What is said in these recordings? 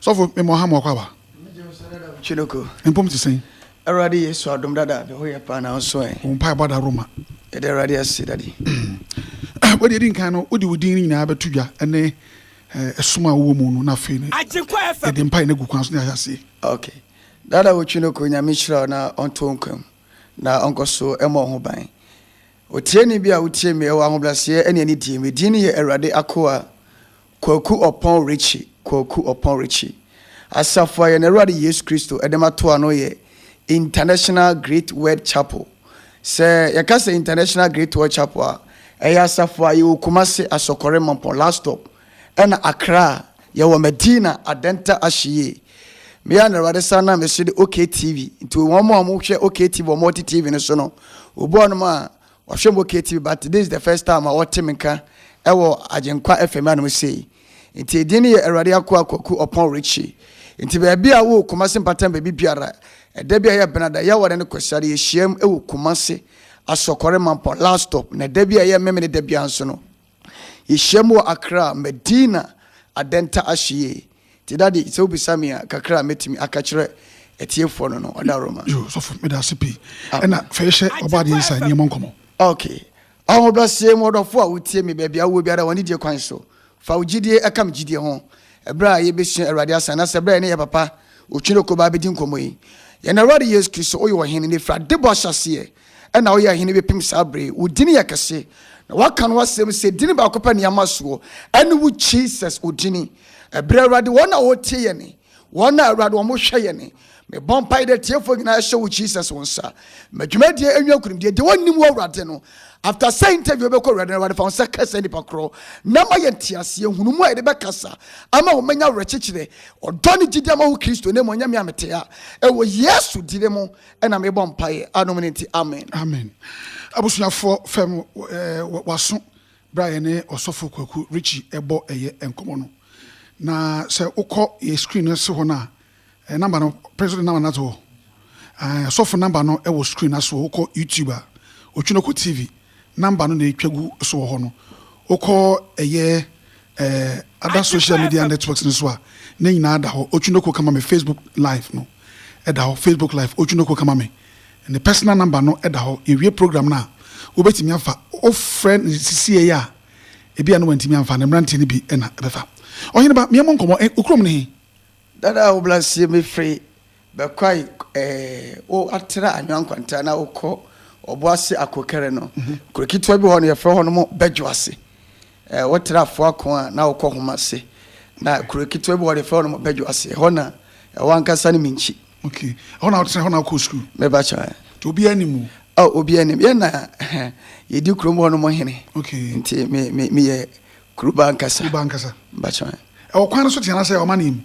sɔfo mmɔ ha ma ɔkwaba chinoko mpom te sɛn awurade yesu adom dada me ho yɛ paa na nso ɛ wo mpaebɔ da roma yɛde awurade ase dade wode ɛdi nkan no wode wo din no nyinaa bɛto dwa ɛne ɛsom a wowɔ mu no na afei no yɛde mpae no agu kwan so ne ayɛ aseɛ okay Daa na wotwi no kɔ Nyame nhyira wo na ɔntɔ wo nkwa mu na ɔnkɔ so mmɔ wo ho ban. Otieni bi a wotie me ɛwɔ ahobraseɛ ɛne anidie me din ne yɛ Awurade Akoa Kwaku Ɔpɔn Richie Kwaku Ɔpɔn Richie Asafo a yɛn Awurade Yesu Kristo ɛde ma to ano yɛ International Great Word Chapel Sɛ yɛka sɛ International Great Word Chapel a ɛyɛ asafo a yɛwɔ Kumasi Asɔkɔre Mampɔn Last Stop Ɛna akra a yɛ wɔ Medina adɛnta ahye yie. Me a na Awurade san nam me so de OK TV nti wɔn a wɔn hwɛ OK TV wɔn a wɔte TV no so no obi wɔ nom a wɔhwɛ mo OK TV but this is the first time a wɔte me nka ɛwɔ Agyenkwa FM anom sei. Nti edin no yɛ Awurade Akoa Kwaku Ɔpɔn Richie. Nti baabi a wowɔ Kumasi mpatam baabi biara ɛda bi a ɛyɛ Benada ɛyɛ awɔre ne Kwasiada yɛ hyiam ɛwɔ Kumasi Asɔkɔre Mampɔn last stop na ɛda bi a ɛyɛ Memeneda biara nso no Yehyiam wɔ Accra, Medina, Adenta Ashie. Nti Daddy, sɛ wobisa me a, kakra a mɛtumi aka kyerɛ atiefoɔ no no, ɔda Roma. Yo, sɔfo, meda ase pii. Ɛna fa yi hyɛ Ɔbɔ Adeɛ nsa, nni ɛmmɔ nkɔmmɔ. Ok. Ahobraseɛ mu ɔdɔfo a wotie me baabi a wowɔ biara wɔ anidie kwan so, fa wo gyidie ka me gyidie ho. Ɛberɛ a yɛbɛsua Awurade Asɛm, anaasɛ ɛberɛ a yɛne yɛn papa Otwene Okoba bɛdi nkɔmmɔ yi, Yɛn Awurade Yesu Kristo, woyɛ Ɔhene, na ɛfiri adebɔ ahyɛaseɛ, na woyɛ hene bɛpem saa berɛ yi. Wo dini yɛ kɛse, na woaka no w'asɛm sɛ dini baako pɛ ne ama soɔ, ɛne wo Jesus wo dini. Ɛberɛ Awurade wɔn a wɔtie yɛne, wɔn a Awurade wɔn hwɛ yɛne. Mebɔ mpaeɛ dɛ tiefoɔ nyinaa ɛhyɛ wo Jesus wo nsa. Ma dwumadie ɛnwia nkunimdie. Deɛ wɔnnim wɔ Awurade no, after sɛ interview bɛkɔ Awurade no, Awurade fa wɔn nsa ka sɛ nipa korɔ, na ma yɛ nteaseɛ, hunu mu a yɛde bɛkasa, ama wɔn manya awerɛkyekyerɛ, ɔdɔ ne gyidi ama wo Kristo, na mmɔ nyame a metea, ɛwɔ Yesu dini mo, ɛna mebɔ mpaeɛ anom no nti amen amen abusuafoɔ fam waso berɛ a yɛne ɔsɔfo kwaku richi ɛbɔ ɛyɛ nkɔmmɔ no na sɛ wokɔ yɛ screen no se hɔ no a namba no pere so de namba no ato hɔ sɔfo namba no ɛwɔ screen no so wokɔ youtube a otwinoko tv number no na etwa gu so wɔ hɔ no, wokɔ ɛyɛ ɛɛ other social media networks no so a, ne nyinaa da hɔ. Otwinoko kama me Facebook live no ɛda hɔ, Facebook live Otwinoko kama me. Ne personal number no ɛda hɔ. Yɛwie program no a, wobɛtumi afa. Wofrɛ no sisiei a, ebi a na wantumi amfa no, mmeranteɛ no bi na ɛbɛfa. Ɔhene ba, meɛ mo nkɔmmɔ, wo kurom ne he? Dada a wo bra sie me fre bɛkwae eh wo atra anwa nkwanta na wo kɔ ɔbo ase ako kɛrɛ no kuro ketewa bi hɔ no yɛfrɛ hɔ no mo bɛdwo ase eh wo tra afo ako a na wo kɔ homa ase na kuro ketewa bi hɔ no yɛfrɛ hɔ no mo bɛdwo ase ɛhɔ na ɛwɔ ankasa ne minkyi ok ɛhɔ na wotra ɛhɔ na wokɔ sukuu me ba kyɛ nti obi anim mu oh obi anim yɛ na yɛdi kuro mu hɔ no mo hene ok nti me me meyɛ Kuruba ankasa. Kuruba ankasa. Mpakyɛ. Ɛwɔ kwan no so tea na sɛ ɔma ne mu.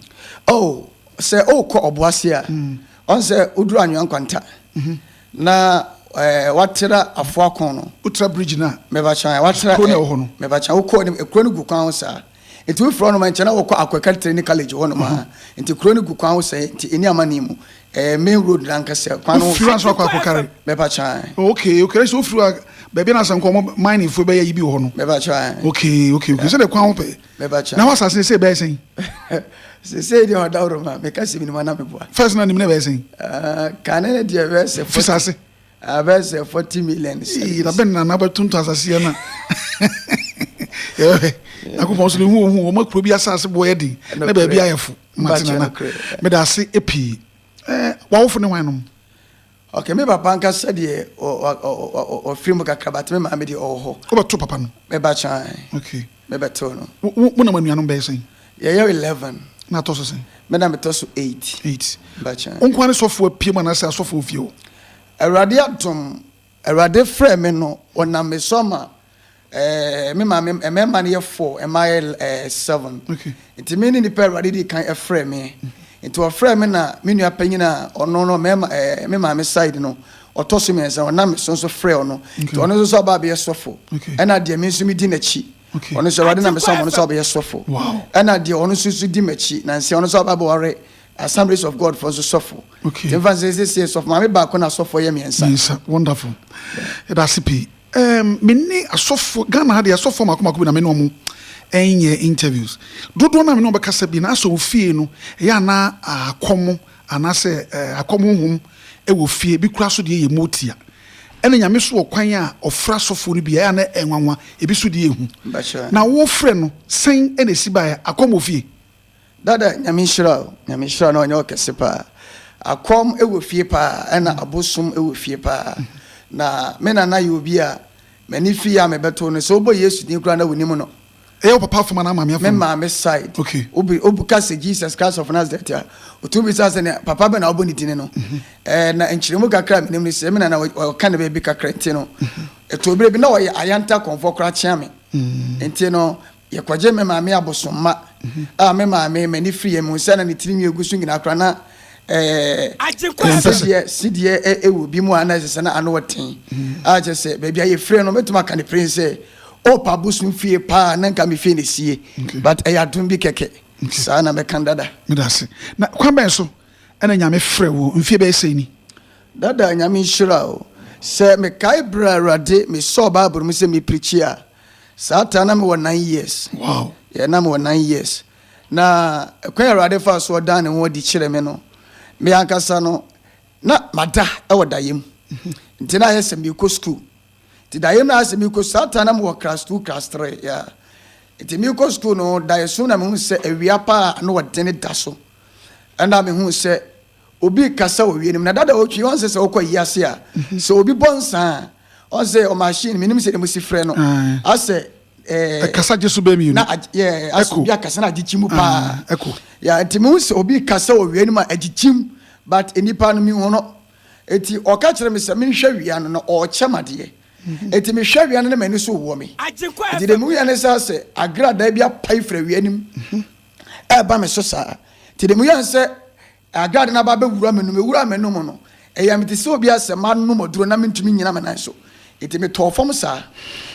Oh sɛ ɔkɔ ɔboase a. Mm. Ɔn sɛ oduru anwea nkwanta. Mhm. Na ɛɛ eh, watera afoakɔn no. Wotra bridge no a. Mebakyɛ watera. Kuro na ɛwɔ hɔ no. Mebakyɛ wokɔ anim ekuro no gu kwan ho saa. Nti wofiri hɔ nom nkyɛn na wɔkɔ akwɛkɛtere ne college hɔ nom a. Nti kuro no gu kwan ho sɛɛ nti ɛni ama ne mu. Ɛɛ main road nankasa kwan no. Ofiri aso akɔ akɔkari. Bɛpa kyan. Okay okay ɛsɛ ofiri a baabi na asɛnkɔ ɔmo mining fo bɛyɛ yi bi wɔ hɔ no. Bɛpa kyan. Okay okay okay sɛ de kwan ho pɛ. Bɛpa kyan. Na hɔ asase ne sɛ bɛyɛ sɛn. Sese deɛ ɔda woro ma meka sɛ minima na meboa. First na nim na bɛyɛ sɛn. Ah, kane ne deɛ bɛyɛ sɛ. Fisase. Ah, bɛyɛ sɛ forty million. Ee na bɛn na na bɛtonto asase yɛ na. Yɛbɛhwɛ. Nakopɔn so ne hu ohun wɔn akuro bi asase boɔ yɛ den na baabi ayɛ fo. Mate nana. Meda ase pii. Eh, wawofo ne hwan nom? Okay, me papa ankasa deɛ ɔfiri mu kakra but me maame deɛ ɔwɔ hɔ. Wobɛto papa no? Mɛba kyan. Okay. Mɛbɛtew no. Mo na mo anuanom bɛyɛ sɛn? Yɛyɛ eleven. Na atɔ so sɛn? Me na metɔ so eight. Eight. Mɛba kyan. Wo nkoa ne sɔfo apue mu anaasɛ asɔfo wɔ fie hɔ? Awurade adom Awurade frɛɛ me no, ɔnam me so ama eh, me maame mmarima no yɛ four, mmaa yɛ eh, seven. Okay. Nti me ne nipa a Awurade di kan frɛ me. Nti ɔfrɛ me na me nua panyin a ɔno no mmarima eh, me maame side no ɔtɔ so mmiɛnsa ɔnam me so nso frɛ ɔno. Okay. Nti ɔno nso sɛ ɔba abɛyɛ sɔfo. Okay. Ɛna deɛ me nso me di n'akyi. Okay. Ɔno nso Awurade nam me so ama ɔno nso abɛyɛ sɔfo. Wow. Ɛna deɛ ɔno nso nso di m'akyi nansi ɔno nso aba abɛware Assemblies of God fo nso sɔfo. Okay. Nfa nse nse sie sɔfo maame baako na sɔfo yɛ mmiɛnsa. Mmiɛnsa wonderful. Ɛda ase pii. Um, me ne asɔfo Ghana ha de asɔfo mako mako bi na me ne wɔn ɛnyɛ interviews. Dodoɔ na me ne wɔn bɛkasa bi na asɔ wɔ fie no ɛyɛ ana akɔm anaasɛ eh, akɔm honhom ɛwɔ fie bi kura so deɛ yɛ mu tia. Ɛna nyame so wɔ kwan a ɔfra asɔfo no bi ɛyɛ ana ɛnwanwa ebi so deɛ ehu. Na wɔfrɛ no sɛn ɛna esi baeɛ akɔm wɔ fie. Dada nyame nhyira o. Nyame nhyira na ɔnyɛ wo kɛse paa. Akɔm wɔ fie paa ɛna abosom wɔ fie paa. Na me nana yɛ obi a m'ani fi yɛ a mebɛto no. Sɛ wobɔ Yesu din koraa na wonim no. Ɛyɛ wo papa fam anaa maame afam? Me maame side. Ok. Wobi woka sɛ Jesus Christ of Nazareth a, otumi bisa sɛ nea papa bɛn na wobɔ ne dini no. Ɛɛ na nkyerɛmu kakra a menim ne sɛ me nana ɔ ɔka ne baabi kakra nti no, ɛtɔ bere bi na ɔyɛ Ayanta kɔmfoɔ koraa kyea me. Nti no Yɛkɔgyee me maame abosomma a me maame m'ani firi yɛn mehu sɛ na ne tirinwi egu so nyinaa koraa na ɛɛ Agyenkwa ɛsɛ sɛ. sideɛ sideɛ ɛ ɛwɔ bi mu a na ɛsɛ sɛ na ano ɔten a kyerɛ sɛ baabi a yɛfiri no mɛtumi aka no pere sɛ Hope abosom fie paa na nka me fie na esie but ɛyɛ adom bi kɛkɛ saa na mɛka no dada. Meda ase. Na kwan bɛn so ɛna Nyame frɛ wo mfie bɛyɛ sɛn ni? Dada Nyame nhyira wo. Sɛ mekae berɛ a Awurade mesɔɔ Bible no mu sɛ me preachi a. Saa taa na mewɔ nine years. Wow. Yeah, na mewɔ nine years. Na ɛkwan Awurade fa so ɔdan ne ho adi kyerɛ me no, me ankasa no, na mada wɔ dayem. Mhm. Nti na ayɛ sɛ mekɔ sukuu. Nti dayem na ayɛ sɛ mekɔ saa taa na mewɔ class two, class three. Yeah. Nti mekɔ sukuu no, daeɛso na mehu sɛ awia paa na ɔdene da so. Ɛna mehu sɛ Obi rekasa wɔ wienum na dada ɔretwi ɔn sɛ sɛ ɔkɔ ayi ase a sɛ obi bɔ nsa a ɔn sɛ ɔmachine menim sɛ dɛm si frɛ no asɛ ɛɛ ɛkasa gye so bɛɛ mienu na agye yɛ asɛ obi akasa na agye kyim mu paa ɛko yɛ nti mehu sɛ obi rekasa wɔ wienum a agye kyim but nnipa no mehu no eti ɔka kyerɛ me sɛ menhwɛ wia no na ɔrekyɛ madeɛ eti mehwɛ wia no na m'ani so wɔ me eti deɛ mehu yɛ ne sɛ asɛ agradaa bi apae fira wia nim ɛreba me so saa. Nti deɛ meyɛɛ sɛ adwade no aba abɛwura me no, mewuraa m'ano mu no, ɛyɛɛ me te sɛ obi a sɛ manom aduro na mentumi nnyina me nan so. Nti metɔɔ fam saa.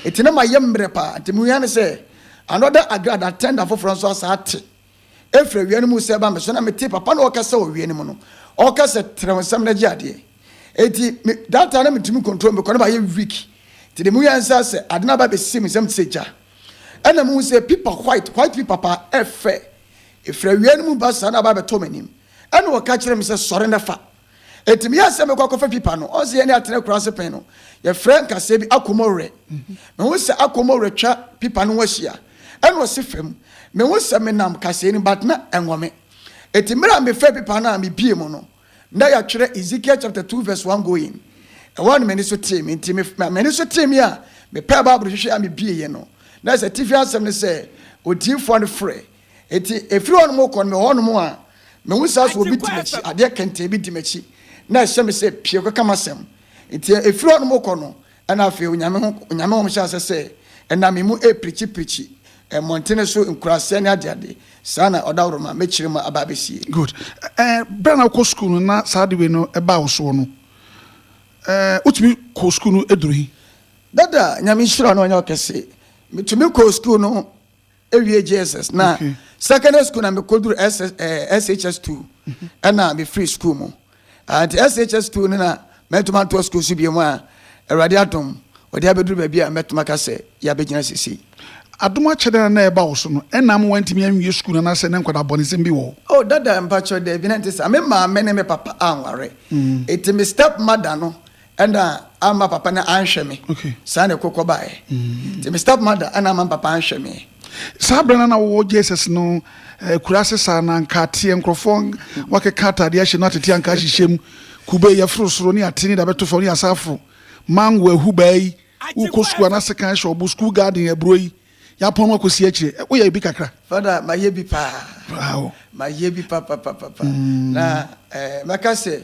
Nti na mayɛ mmerɛ paa. Nti mehuiɛ ne sɛ, another adwade, attendant foforɔ nso asan ate ɛfiri awia no mu sɛ ɛreba me so. Na metee papa no ɔrekasa wɔ awia no mu no, ɔreka sɛ, Trɛ wo nsam na gye adeɛ. Nti me, that time na mentumi ncontrol me kɔ, na mayɛ weak. Nti deɛ mehuiɛ ne sɛ, sɛ ade no aba abɛsi me nsam te sɛ gya. Ɛna mehu sɛ pipa white white pipa paa ɛfɛ efiri awia no mu ba saa na aba abɛtɔ m'anim. Ɛna ɔka kyerɛ me sɛ sɔre na fa. Eti meyɛ sɛ mekɔ akɔfa pipa no. Ɔn sɛ yɛne Atena kuro ase pɛn no yɛfrɛ nkasɛɛ bi Akomowrɛ. Mehu sɛ Akomowrɛ twa pipa no ho ahyia. Ɛna ɔsi fam. Mehu sɛ menam kasɛɛ no mu but na ɛnwɔ me. Eti mmerɛ a mefaa pipa no a mebue mu no. Ná yɛatwerɛ Ezekiel chapter two verse one going. Ɛhɔ ara na m'ani so tee me. Nti me, ma m'ani so tee me a, mepɛɛ Bible hwehwɛɛ a mebieeɛ no, na ɛsɛ atifi asɛm no sɛ, Odiyifoɔ no frɛ. Enti ɛfiri hɔnom rekɔ no, mewɔ hɔnom a, mehu saa sɛ obi di m'akyi, adeɛ kɛntɛn bi di m'akyi, na ɛhyɛ me sɛ, Pue kɔka m'asɛm. Nti ɛfiri hɔnom rekɔ no, Ɛna afei Onyame ho Onyame hom hyɛ asɛ sɛ ɛnam me mu ɛɛprikyi prikyi mmɔntene so, nkuraseɛ ne ade ade, saa na Ɔdawroma mɛkyire mu aba abɛsie. Good. Ɛɛ berɛ na wokɔ sukuu no na saa ade wei no baa wo soɔ no, ɛɛ wotumi kɔɔ sukuu no duru he? Dada, Nyame nhyira no nyɛ ɔkɛse. Metumi kɔɔ sukuu no Ewie JSS na secondary school na mekoduru SHS two ɛna mefiri school mu nti SHS two no na mɛtuma ntoa school so biem a Awurade adom ɔde abɛduru baabi a mɛtuma ka sɛ yɛabɛgyina sesei. Adom akyɛde na na ɛba wo so no ɛna ama woantumi anwie school no anaasɛ na nkwadaa bɔnesɛm bi wɔ hɔ? Oh dada mpakyɛw daabi na ɛnte saa. Me maame ne me papa anware nti me step mother no Ɛna amma papa no anhwɛ me. Okay. Saa na ɛkɔ kɔ baeɛ. Mm. Nti me step mother ɛna amma papa anhwɛ me. Saa berɛ no na wowɔ Jesus no eh, kura ase saa na nka ateɛ nkurɔfoɔ wakeka atadeɛ ahyɛ no atete anka ahyehyɛ mu kube yɛforo soro ne ate ne da bɛto fam ne asa aforo mango ahu baa yi wokɔ sukuu anase kan hyɛ ɔbo sukuu garden aburo yi yɛapɔn no akɔsi akyire eh, woyɛ bi kakra fada mayɛ bi paa mayɛ bi papapapapa mm. na eh, mɛka sɛ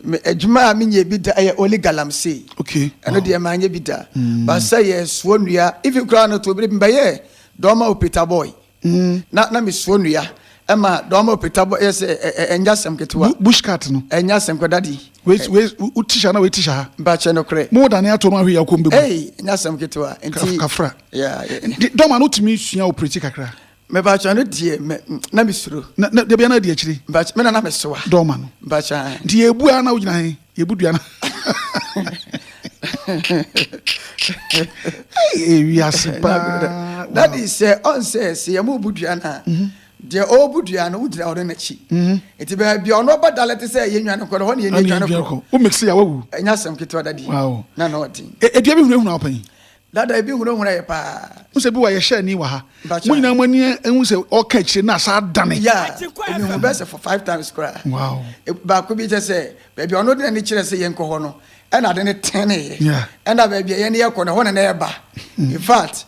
Me adwuma a menyɛ bi da yɛ only galamsey. Okay. Ɛno deɛ manyɛ bi da. Mm. Ba sɛ yɛ soɔ nnua. Even koraa no to bere bi bɛyɛ dɔɔma opeta boy. Mm. Na na me soɔ nnua. Ɛma dɔɔma opeta boy yɛ sɛ ɛnya sɛm ketewa. Bush cat no. Ɛnya sɛm kɔ dadi. Wei wei wo tisha na wei tisha ha. Ba kyɛ no korɛ. Mo dane ato ma hwe yakɔ mbegu. Ei, ɛnya sɛm ketewa. Nti kafra. Yeah. Dɔɔma no tumi sua operate kakra. Mepakyɛw no deɛ me na me suro. Na na dabi a na adi akyire. Mepakyɛw me na na me soa. Dɔɔ ma no. Mepakyɛw ɛɛ. Nti yɛ ebu a na wogyina he? Yɛ ebu dua no. Ei ewiase paa. That is sɛ ɔn sɛ sɛ yɛ mo bu dua no a. Deɛ ɔɔbu dua no wogyina ɔno n'akyi. Nti baabi a ɔno ɔba da lɛte sɛ yɛ nwane kɔ no hɔ na yɛ ni adwane kɔ. Wo mix yɛ a wawu. Ɛnyɛ asɛm ketewa dadi. Wow. Na na ɔden. Edua bi hunahuna wo pɛn. Dada ebi hunahuna yɛ paa. Hu sɛ bi wa yɛ hyɛni wɔ ha. Mo nyinaa mo ani ehu sɛ ɔka akyire na asa adane. Yeah, me hu bɛ sɛ for five times kora. Wow. Baako bi kyɛ sɛ baabi a ɔno de n'ani kyerɛ sɛ yɛn kɔ hɔ no ɛna ade no tene yɛ. Yeah. Ɛna baabi a yɛn yɛ kɔ no ɛhɔ na na ɛba. In fact,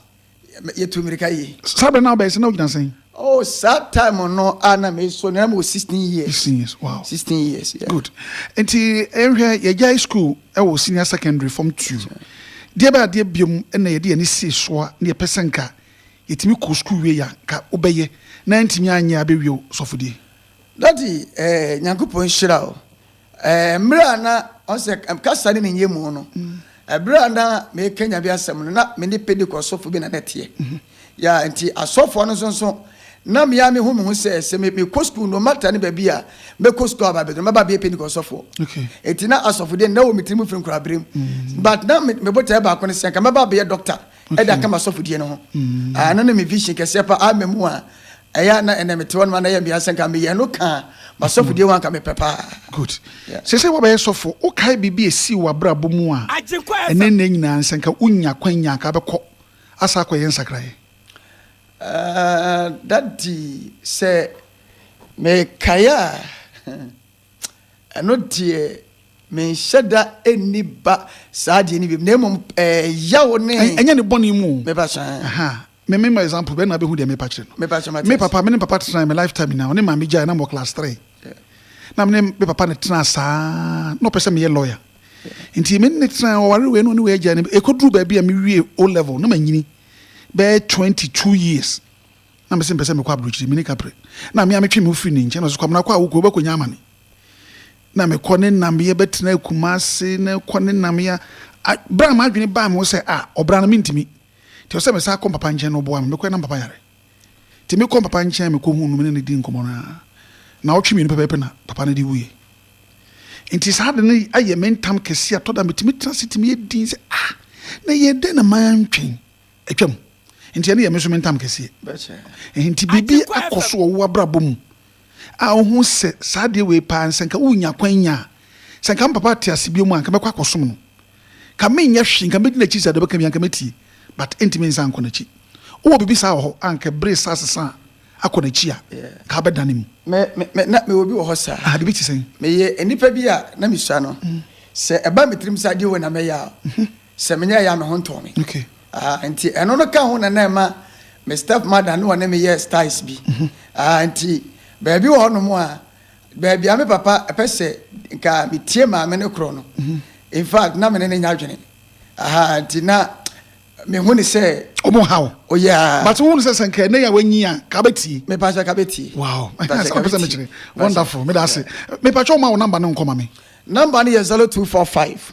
yɛtu mmirika yie. Saa bɛ na ɔbɛyɛ sɛ na ɔgyina sɛn? Oh saa time no a na me so na mewɔ sixteen years. Sixteen years wow. Sixteen years yeah. Good nti nhwɛ yɛgyae school ɛwɔ senior secondary form two deɛ bɛ adeɛ biom ɛna yɛde yɛn ani sii soa na yɛpɛ sɛ nka yɛtumi kɔ school wie yɛ nka wobɛyɛ na ntumi anyɛ abɛwie sɔfodie. Daddy eh Nyankopɔn nhyira o. Mmerɛ a na, ɔhu sɛ kasa ne ne nyɛmu no, berɛ a na merekɛ Nyame asɛm no, na me ne Pentecost sɔfo bi na na ɛteɛ. Ya, nti asɔfoɔ no nso, na me ara me hu me ho sɛ, sɛ me kɔ sukuu no matter ne baabi a mɛ kɔ sukuu a aba abɛduru no, mɛ ba abɛyɛ Pentecost sɔfoɔ. Nti na asɔfodeɛ no na ɛwɔ me tiri mu firi nkura berɛ mu. But na me botaeɛ baako ne sɛ, nka mɛba abɛyɛ doctor de aka m'asɔfodeɛ no ho. Ɛno ne me vision kɛseɛ paa, mɛ mu a. Ɛyɛ a na ɛnɛ mete hɔ nom a na ɛyɛ mia sɛ nka meyɛ ɛno kaa m'asɔfodie ho anka mepɛ paa. Good. Yeah. Sɛ sɛ wabɛyɛ sɔfo, wokae biribi a esii w'abrabɔ mu a Agyenkwa ɛne FM. nnɛ nyinaa no, sɛ nka wonya akwanya a anka abɛkɔ asa akɔyɛ nsakraeɛ? Ah, Daddy, sɛ mekae a, ɛno deɛ menhyɛ da ɛnni ba saa deɛ no biom, na mmom eh, yaw ne Ɛ- Ɛnyɛ ne bɔne mu o. meba so eh. Aha. Me me ma example bɛ na bɛ hu deɛ mepa kyerɛ no. Mepa kyerɛ ma Me papa, me ne papa tenae me life time nyinaa, ɔne maame gyae na mewɔ class three. Na me ne me papa ne tenaa saa, na ɔpɛ sɛ meyɛ lawyer. Nti me ne ne tenae, ɔware wei na ɔne wei agyae no, ɛkɔduru baabi a me wie O level na manyini bɛyɛ twenty two years, na mese mepɛ sɛ mekɔ abrokyire, me ne Kapre. Na me a metwe me ho firi ne nkyɛn, na ɔse Kwabena kɔ a wo kuro wobɛkɔnya amane. Na mekɔ ne nameɛ bɛtena Kumasi, na kɔ ne nameɛ a, berɛ a m'adwene baa me ho sɛ ah, ɔbra no mentumi. Nti ɔsɛ mesan kɔ papa nkyɛn na ɔboa me. Mekɔɛ na papa yare. Nti mekɔɔ papa nkyɛn mekɔhuu no mene no dii nkɔmmɔ no ara. Naawɔtwe mmienu pɛpɛɛpɛ na papa no de wuiɛ. Nti saa ade no ayɛ me ntam kɛseɛ a ɛtɔ da a metumi tena ase tumi yɛ dinn sɛ ah na ɛyɛɛ dɛn na mantwɛn. Atwam. Nti ɛno yɛ me nso me ntam kɛseɛ. Nti biribi akɔ so wɔ wo abrabɔ mu. a ohu sɛ saa adeɛ wei paa no, sɛ nka wonya kwan nya a, sɛ nka me papa te ase bio mu a, nka mɛkɔ akɔsom no. Nka menyɛ hwee, nka mɛdi n'akyi sɛdeɛ ɔbɛka biara, nka mɛtie. But ɛntumi nsan nkɔ n'akyi. Wowɔ biribi saa wɔ hɔ a, nka bere resa asesa a, akɔ n'akyi a, nka abɛdane mu? Me, me, me, na mewɔ bi wɔ hɔ saa. Ah, biribi te sɛn? Meyɛ nnipa bi a na mesua no. Sɛ ɛba me tirim sɛ adeɛ wei na mɛyɛ a, Sɛ menyɛɛ yɛ a, me ho ntɔɔ me. Nti ɛno no ka ho na na ɛma me step mother ne ɔne me yɛɛ styles bi. Nti baabi wɔ hɔnom a, baabi a me papa pɛ sɛ nka metie maame no korɔ no, in fact na me ne no nyɛ adwene. Nti na mehu no sɛ. Ɔmo ha wo. Oh yeah. But wohu no sɛ sɛ nka ɛnɛ yi a wanyin a, nka wobɛtie? Me paa sɛ nka mɛtie. Wow. Me paa sɛ nka mɛtie. Wonderful. Meda ase. Me pakyɛ wo ma wo number no nkɔ ma me. Number no yɛ 0245.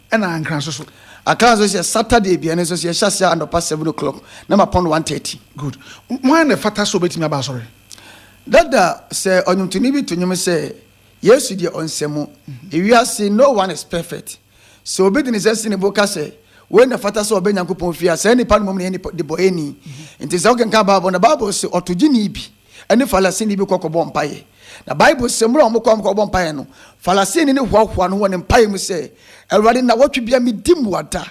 ɛna ankra nso so. Akra nso sɛ Saturday bia ne nso sɛ yɛhyɛ aseɛ anɔpa seven o'clock na ma pɔn one thirty. Good. Hwan na ɛfata sɛ ɔbɛtumi aba asɔre? Dada, sɛ ɔnwomtoni bi to nwom sɛ, Yesu deɛ ɔnsɛ mu, ewiase no one is perfect. Sɛ obi de ne nsa si ne bo ka sɛ, wei na ɛfata sɛ ɔba Nyankopɔn fie a, saa nipa no mmom na ɛyɛ nipa debɔeɛni. Nti sɛ wokenkan Bible no, Bible se ɔtogyeni bi. ne Farisini bi kɔkɔbɔ mpaeɛ. Na Bible sɛ mmerɛ a wɔkɔ a wɔkɔbɔ mpaeɛ no, Farisini no hoahoa no wɔ ne mpaeɛ mu sɛ, Awurade, nnawɔtwe bia medi mmuada.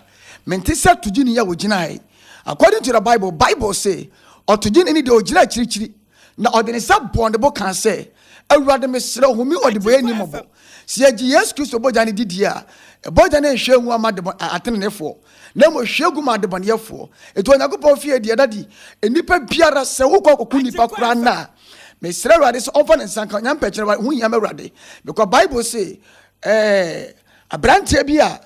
Mente sɛ togyeni a ɔgyina ha yi. According to the Bible, Bible se ɔtogyeni no deɛ ɔgyina akyirikyiri na ɔde ne nsa bɔɔ ne bo kaa sɛ, Awurade, mesrɛ wo, hu me ɔdebɔyɛni mmɔbɔ. Sɛ yɛgye Yesu Kristo bɔgya no di die a, bɔgya no nhwɛ ngu ama ateneneefoɔ. na mmom hwie gu ma adebɔneyɛfoɔ. Enti Onyankopɔn fie deɛ ɛda di, nnipa biara, sɛ wokɔ akɔku nnipa koraa no a, mesrɛ Awurade sɛ ɔmfa ne nsa nka, ɔnya mpɛ kyerɛ, ho hia m'Awurade, because Bible se, eh, aberanteɛ bi a,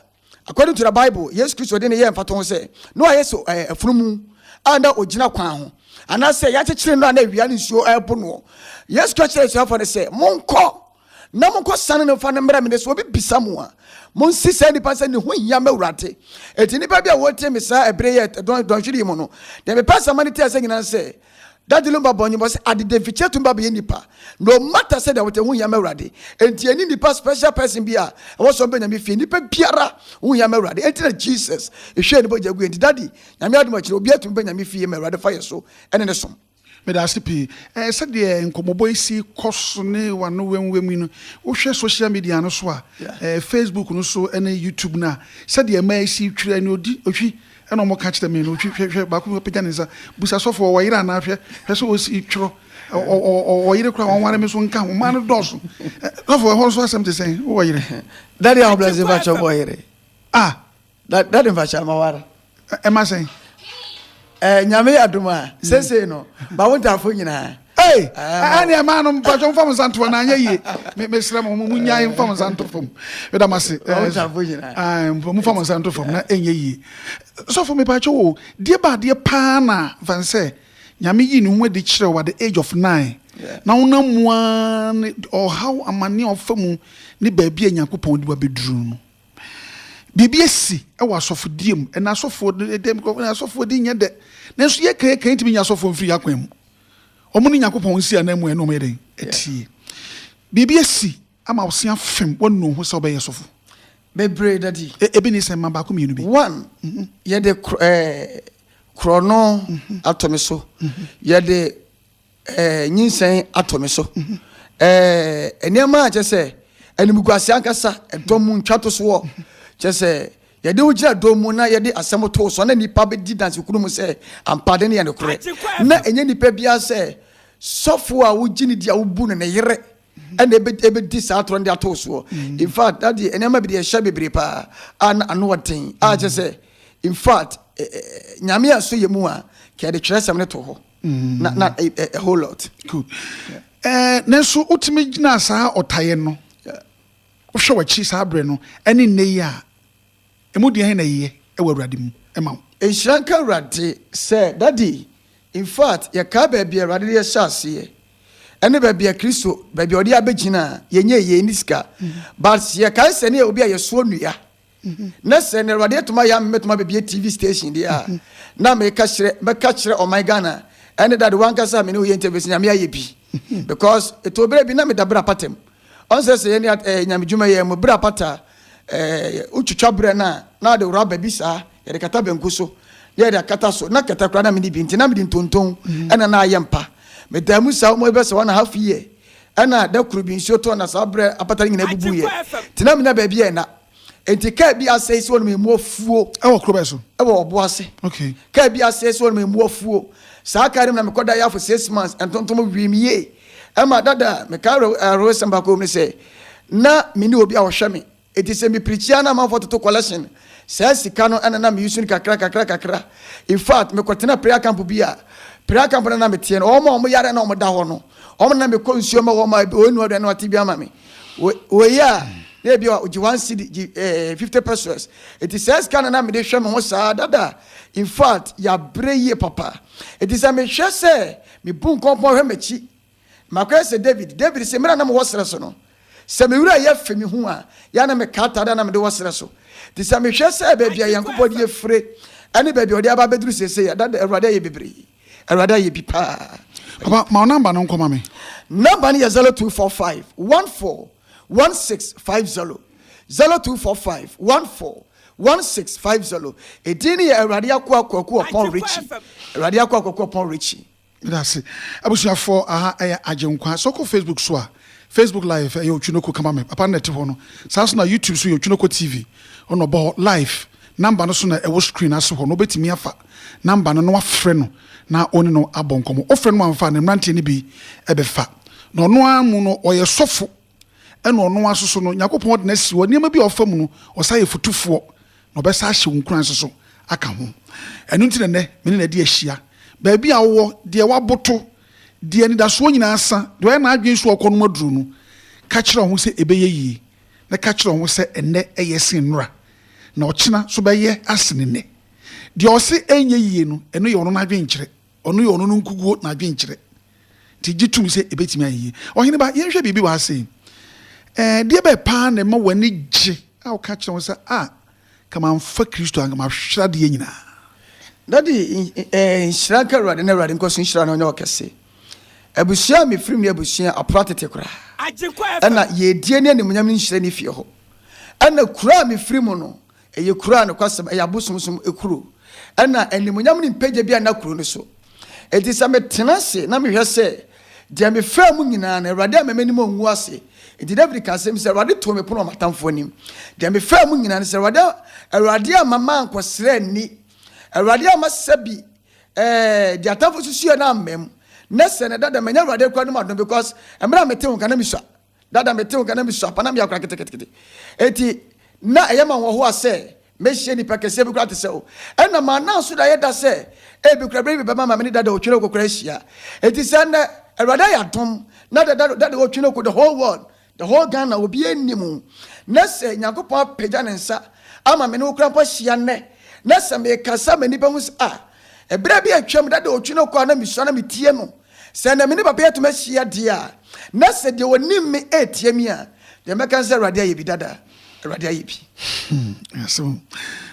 according to the Bible, Yesu Kristo de ne yɛɛ mfatoho ho sɛ, na wayɛ sɛ eh, afunumu a na ɔgyina kwan ho, anaasɛ yɛakyekyere no a na awia ne nsuo ɛrebo noɔ. Yesu ka kyerɛ asuafoɔ no sɛ, monkɔ na monkɔ sane no mfa no mmerɛ me de sɛ obi bisa mo a monsi saa nipa sɛ ne ho hia m'awurade ɛti nipa bi a wɔtie me saa ɛbere yɛ dɔnhwere yi mu no deɛ mepɛ asɛma no tiɛ sɛ nyina sɛ dade lumba bɔ nyimɔ sɛ adede mfikyɛ tumba bɛyɛ nipa no mata sɛ deɛ wɔte ho hia m'awurade ɛnti ɛni nipa special person bi a ɛwɔ sɛ ɔbɛ nyame fie nipa biara ho hia m'awurade ɛnti na Jesus ɛhwɛ ne bɔgya gu ɛnti dade nyame adom akyiri obi atumi bɛ nyame fie m'awurade fa yɛ so ɛne ne som Meda ase pii. Ɛɛ, sɛdeɛ nkɔmmɔbɔ yi si kɔ so ne w'ano wɛmwɛm yi no, wohwɛ social media no so a, ɛɛ, Facebook no so ne YouTube no a, sɛdeɛ mmaa yi si twiri ani, ɔdi, ɔhwi, ɛna wɔka kyerɛ me no, ɔhwi, hwɛ, hwɛ, baako bi apagya ne nsa, busa sɔfo, ɔwɔ yere anaa, hwɛ, hwɛ sɛ ɔsi twerɛ, ɔ, ɔ, ɔ, ɔwɔ yere koraa, wɔnware me nso nka ho, mmaa no dɔɔso. Ɛ, sɔfo, ɛhɔ nso asɛm te sɛn? Wowɔ yere? Daddy, ahobrɛase, mpakyɛ, wowɔ yere? Ah! Da dade nfa hyɛ ama ware. Ɛma sɛn? Ɛɛ nyame yɛ adum a sese no ma wo ntaafo nyinaa. Ee ɛne ɛmaa no mpatwɔ mfa mo nsa ntoɔ na anyɛ yie mesrɛ mo mo nyae mfa mo nsa nto fam meda mo ase momfa mo nsa nto fam na ɛnyɛ yie sɔfo mepatwɔ wo deɛ baadeɛ paa na fan sɛ nyame yi ne ho adi kyerɛ wo at the age of nine na wonam mu a ne ɔhaw amane ɔfa mu ne baabi a nyankopɔn de wabɛduru no Biribi asi wɔ asɔfodie mu, ɛna asɔfoɔ no ɛdɛ mu kɔkɔ, na asɔfoɔ de nyɛ dɛ. Nanso yɛ kan yɛ kan ntumi nya asɔfoɔ mfiri yɛ akwan mu. Wɔn ne Nyankopɔn nsi anan mu ɛna wɔn yɛ dɛn ɛtie. Biribi asi ama wo se afem wɔn nu ho sɛ wɔbɛyɛ sɔfo. Bebree daddy. E, ebi ni sɛ mma baako mmienu bi. One, mhm. yɛ de kro, eh, korɔ no mhm. ato me so. Mhm. Yɛ de. Eh, nyinsɛn atɔ me so. Eh, nneɛma a kyɛ sɛ animguase ankasa, ɛdɔ mu ntwatosoɔ. Kyɛ sɛ yɛde wo gyina dɔ mu na yɛde asɛm too so na nnipa bɛdi dansekunu mu sɛ ampa de no yɛ nokorɛ. Na ɛnyɛ nnipa biara sɛ sɔfo a wogye no di a wobu no ne yere ɛna ɛbɛdi saa atorɔ no de atoo soɔ. In fact, na deɛ nneɛma bi deɛ ɛhyɛ bebree paa a na ano ɔden a kyɛ sɛ in fact, eh, eh, eh, nyame a so yɛ mu a kɛde twerɛsɛm no to hɔ. na na a, a, a whole lot. Good. Yeah. Eh, nanso wotumi gyina saa ɔtayɛ no. Yeah. Wohwɛ w'akyi saa berɛ no ɛne nnɛ yi a ɛmu deɛ hɛn na yeyɛ ɛwɔ Awurade mu ɛma wo. Nhyira nka Awurade sɛ dadi. In fact, yɛkaa baabi a Awurade de yɛhyɛ aseɛ ɛne baabi a Kristo baabi a ɔde abɛgyina a yɛnyɛ yɛn ni sika. Mm. But yɛkae sɛ ne yɛ obi a yɛsoɔ nnua. Na sɛ na Awurade atuma yɛ ama mɛtuma bɛbie TV station deɛ a, na meka kyerɛ, mɛka kyerɛ ɔman Ghana, ɛne dade wankasa a mene woyɛ interview sɛ nyame ayɛ bi. Because ɛtɔ berɛ bi na meda berɛ apata mu. Ɔn sɛ sɛ yɛne eh, nyame dwuma yɛ mu berɛ apata, eh, wotwitwa berɛ no a, na ɔde raba bi saa, yɛde kata banku so, na yɛde akata so, na kata koraa na mene bi, nti na mede ntonton ɛna na ayɛ mpa. Medaa mu saa almost bɛ sɛ one and a half year. Ɛnna da koro bi nsuo tɔɔ na saa berɛ apata no nyinaa bubuiɛ. Nti na mennya baabi a ɛna. Enti kaa bi asɛe sɛ wɔnom ɛmu afuo. Ɛwɔ kuro bɛn so? Ɛwɔ Ɔboase. Okay. Kaa bi asɛe sɛ wɔnom ɛmu afuo. Saa kaa no mu na mekɔda yɛ afo six months, ntontom wee me yie. Ɛma dada mekae awerɛhosɛm baako wɔ mu ne sɛ, na menni obi a ɔhwɛ me. Enti sɛ mepirikyi a na amanfoɔ toto kɔlɛhyen. Saa sika no na na meyusu no kakra kakra kakra. Infact, mekɔtenaa prayer camp bi a, prayer camp no a na meteɛ no, wɔn a wɔyare a na wɔda hɔ no, wɔn na na mekɔ nsuo ma wɔn a ebi wɔnnua aduane na wɔate bi ama me. Wɔ, wɔyɛ a, na ebi a wɔgye one cedi, gye eh, fifty pesos. Enti saa sika no na mede hwɛ me ho saa dada. Infact, yɛabrɛ yie papa. Enti sɛ mehwɛ sɛ mebu nkɔmpɔn hwɛ m'akyi, Makɔyɛ sɛ Dawid. Dawid se, Mmerɛ a na mewɔ serɛ so no, sɛ me werɛ yɛ fe me ho a, yɛ a na meka atadeɛ a na mede wɔ serɛ so. Nti sɛ mehwɛ sɛ baabi a Nyankopɔn de afire ne baabi a ɔde aba abɛduru seesei a, na Awurade ayɛ bebree. Awurade ayɛ bi paa. Papa, ma wo namba no nkɔma me. Namba no yɛ 0245141650, 0245141650. Edin no yɛ Awurade Akoa Kwaku Ɔpɔn Ritchie, Awurade Akoa Kwaku Ɔpɔn Ritchie. Meda ase abusuafoɔ aha yɛ Agyenkwa. Sɛ wokɔ Facebook so a, Facebook live ɛyɛ Otwinoko kama me papa no na ɛte hɔ no. Saa nso na YouTube so yɛ Otwinoko TV ɔno na ɔbɔ hɔ live. Number no so na ɛwɔ screen no ase hɔ no wobɛtumi afa number no na wafrɛ no na wone no abɔ nkɔmmɔ. Wofrɛ no ma amfa a ne mmeranteɛ no bi bɛfa na ɔno ara mu no ɔyɛ sɔfo Ɛna ɔno ara nso so no, Nyankopɔn de no asi hɔ, nneɛma bi a ɔfa mu no, ɔsan yɛ fotufoɔ, na ɔbɛsan ahyɛ wo nkuran nso so aka ho. Ɛno nti na nnɛ, me ne no adi ahyia. Baabi a wowɔ, deɛ woaboto, deɛ anidasoɔ nyinaa sa, deɛ ɔyɛ n'adwene sɛ ɔrekɔnom aduro no, ka kyerɛ wo ho sɛ ɛbɛyɛ yie, na ka kyerɛ wo ho sɛ ɛnnɛ ɛyɛ sen nnora, na ɔkyena nso bɛyɛ asene nnɛ. Deɛ ɔse ɛrenyɛ yie no, ɛno yɛ ɔno n'adwenkyerɛ. Ɔno yɛ ɔno no nkukuo n'adwenkyerɛ nti gye tom sɛ ɛbɛtumi ayɛ yie. Ɔhene ba, yɛnhwɛ biribi wɔ ha sei. Ɛdeɛ bɛn paa na ɛma w'ani gye a woka kyerɛ ho sɛ, ah, nka mamfa Kristo a, nka mahwere adeɛ nyinaa? Daddy, nhyira nka Awurade na Awurade nkɔ so nhyira na ɔnyɛ ɔkɛse. Abusua a mefiri mu no yɛ abusua a apora tete koraa. Ɛna yiedie ne animuonyam no nhyerɛn ne fie hɔ. Ɛna kuro a mefiri mu no, Ɛyɛ kuro a nokwasɛm ɛyɛ abosomsom kuro. Ɛna animuonyam ne mpagya biara nna kuro no so. Enti sɛ metena ase na mehwɛ sɛ deɛ mefaa mu nyinaa no, Awurade amma m'anim angu ase. Enti Dawid kaa asɛm yi sɛ, Awurade too me pono wɔ m'atamfoɔ anim. Deɛ mefaa mu nyinaa no, sɛ Awurade, Awurade amma mankɔsrɛ nni, Awurade amma sɛbi eh, deɛ atamfoɔ susuiɛ no amma mu, na sɛ na ɛda dɛm a, ɛnyɛ Awurade koraa anom adom, because mmerɛ a mete wo nka na mesua. Dada mete wo nka na misua pa na meyɛ akora ketekete. Enti na ɛyɛ ma nhoahoa sɛ mehyia nnipa kɛseɛ bi koraa te sɛ wo. Ɛnna mananso da yɛ da sɛ ebi koraa bere bi bɛma ma me ne Dada Otwenoko koraa ahyia. Enti sɛ nnɛ, Awurade ayɛ adom na Dada Dada Otwenoko, the whole world, the whole Ghana, obiara nnim wo, na sɛ Nyankopɔn apagya ne nsa ama me ne wo koraa mpo ahyia nnɛ, na sɛ mekasa ma nnipa hu sɛ, ah, ɛberɛ bi atwam Dada Otwenoko a na misua na metie no, Sɛ anka me ne papa yi atumi ahyia deɛ a, na sɛ deɛ ɔnim me retia me a, deɛ mɛka ne sɛ Awurade ayɛ bi dada. Awurade ayɛ bi. Asɛm.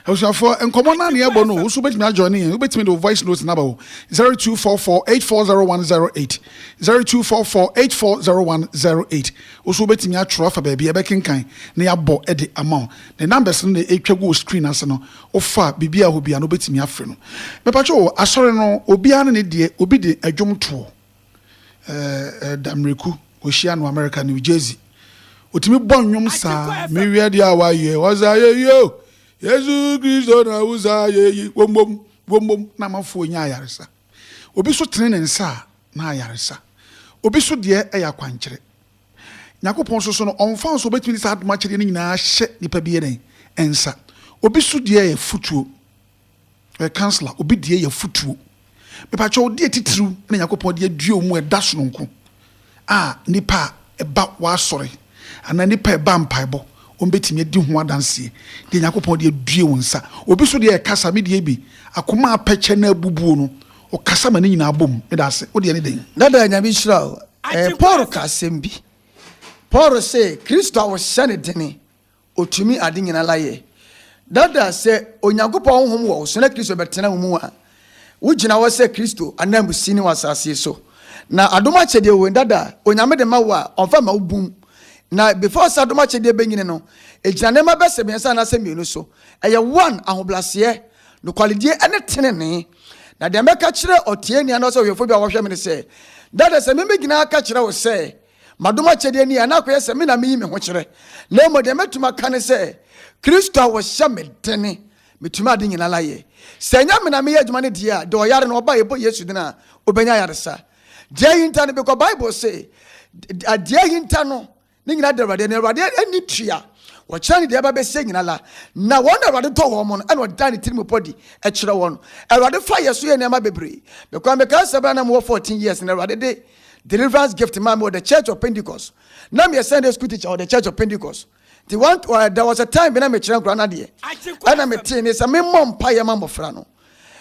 Abusuafoɔ, nkɔmmɔ no a ne ɛbɔ no, wo nso wobɛtumi ajoine yɛn. Wobɛtumi de wo voice note no aba o. 0244840108, 0244840108. Wo nso wobɛtumi atwerɛ afa baabi a ɛbɛkenkan na yɛabɔ de ama wo. Ne numbers no na ɛtwa gu wo screen ase no. Wofa biribi a obiara no obetumi afrɛ no. Mepakyɛ o, asɔre no obiara ne ne deɛ, obi de ɛdwom toɔ, ɛɛ Damereku, wɔhyia no America, New Jersey. Ɔtumi bɔ nnwom saa. Me hwɛ deɛ a wayɛ, ɔsa yɛ yi o, Yesu Kristo na wo sa yɛ yi, wombom, wombom, na amafoɔ nya ayaresa. Obi so tene ne nsa a, na ayaresa. Obi so deɛ ɛyɛ akwankyerɛ. Nyankopɔn nso so no, ɔmfa nso obetumi de saa adom akyɛdeɛ no nyinaa ahyɛ nipa bi yɛ dɛn? nsa. Obi so deɛ yɛ afutuo, ɔyɛ counsellor, obi deɛ yɛ afutuo. Mepakyɛ wo, deɛ titiriw na Nyankopɔn de adue wo mu ɛda sononko a nipa a ɛba w'asɔre anaa nipa a ɛba mpaebɔ wɔn betumi adi ho adanseɛ, deɛ Nyankopɔn de adue wo nsa. Obi so deɛ yɛ kasa, me deɛ bi, akoma a apɛkyɛ na abubuo no, Ɔkasa ma ne nyinaa bom. Meda ase. Wo deɛ ne dɛn? Dada Nyame nhyira wo. Ɛɛ Paul ka asɛm bi. Paul se Kristo a wɔhyɛ no dene, otumi ade nyina la yɛ. Dada sɛ Onyankopɔn honhom wɔ wo so na Kristo bɛtena wo mu a, wo gyina hɔ sɛ Kristo ananmusini wɔ asase so. Na adom akyɛdeɛ wei dada Onyame de ma wo a, ɔmfa mma wo bum. Na before sɛ adom akyɛdeɛ bɛnyini no, ɛgyina nneɛma bɛsɛ mmiɛnsa anaasɛ mmienu so. Ɛyɛ one, ahobraseɛ, nokwaredie ne tenenee. Na deɛ mɛka kyerɛ ɔteɛni anaasɛ ɔhwɛfoɔ bi a wɔhwɛ me ne sɛ, Dada, sɛ memmɛgyina aka kyerɛ wo sɛ, Madom akyɛdeɛ ni a, na akɔyɛ sɛ me na meyi me ho kyerɛ. Na mmom deɛ mɛtumi aka ne sɛ, Kristo a ɔhyɛ me dene, metumi ade nyinaa ayɛ. Sɛ ɛnyɛ me na meyɛ adwuma no deɛ a, deɛ ɔyare no, ɔba a yɛbɔ Yesu din a, ɔbɛnya ayaresa. Deɛ ahinta no, bikɔ Bible se, deɛ ahinta no, Ne nyina de Awurade, na Awurade ani tua, wɔkyerɛ ne deɛ ɛba bɛsie nyina la, na wɔn na Awurade dɔ wɔn no, ɛna ɔda ne tirimupɔ di kyerɛ wɔn. Awurade fa yɛ so yɛ nneɛma bebree. Mekwan mekae sɛ bere a na mewɔ 14 years na Awurade de deliverance gift maa me wɔ the church of Pentecost. Na meyɛ Sunday school teacher wɔ the church of Pentecost. Nti one, uh, there was a time bi na mekyerɛ nkora no adeɛ. Ɛna metee ne sɛ memmɔ mpaeɛ ma mmɔfra no.